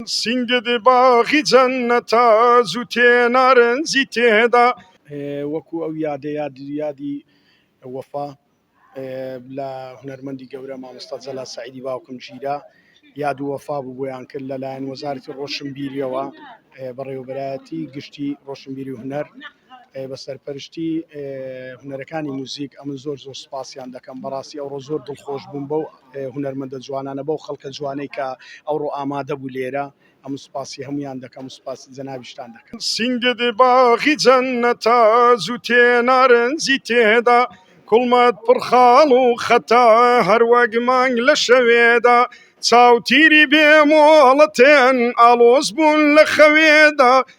سینگت باغی جەننەتە زووتێ نارنجی تێدا. وەکو ئەو یادە یاد یادی وەفا لە هونەرمەندی گەورە مامۆستا جەلال سەعیدی باوکم ژیرە یاد و وەفا بوو بۆیان کرد لەلایەن وەزارەتی ڕۆشنبیریەوە بەڕێوەبەرایەتی گشتی ڕۆشنبیری و هونەر بە سەرپەرشتی هونەرەکانی موزیک ئەمن زۆر زۆر سپاسیان دەکەم بەڕاستی ئەوڕۆ زۆر دڵخۆش بووم بەو هونەرمەندە جوانانە بەو خەڵکە جوانەی کە ئەوڕۆ ئامادە بوو لێرە ئەم سپاسی هەمویان دەکەم سپاسی جەناویشتان دەکەم سنگد باغی جەنەتا زوو تێ نارنجی تێدا کوڵمەت پڕخاڵ و خەتا هەروەک مانگ لە شەوێدا چاوتیری بێ مۆڵەتێن ئاڵۆز بوون لە خەوێدا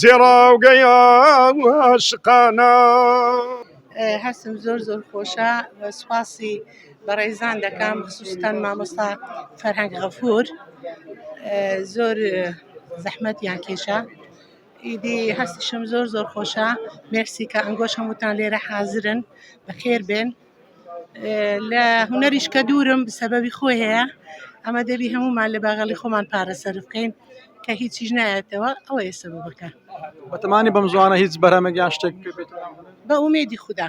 زێڕاوگەی ئاو ئاشقانە. هەستم زۆر زۆر خۆشە سوپاسی بەڕێزان دەکەم خصوصتان مامۆستا فەرهەنگ غەفور زۆر زەحمەت یان کێشە ئیدی هەستشم زۆر زۆر خۆشە مێرسی کە ئەنگۆش هەمووتان لێرە حازرن بەخێر بێن لە هونەریش کە دوورم سەبەبی خۆی هەیە ئەمە دەبی هەمومان لە باغەڵی خۆمان پارە سەرف بکەین کە هیچیش نایەتەوە ئەوە ئێستا بەکە بەتەمانی بەم زوانە هیچ بەرەمە گیان شتێک بە ئومێدی خوددا.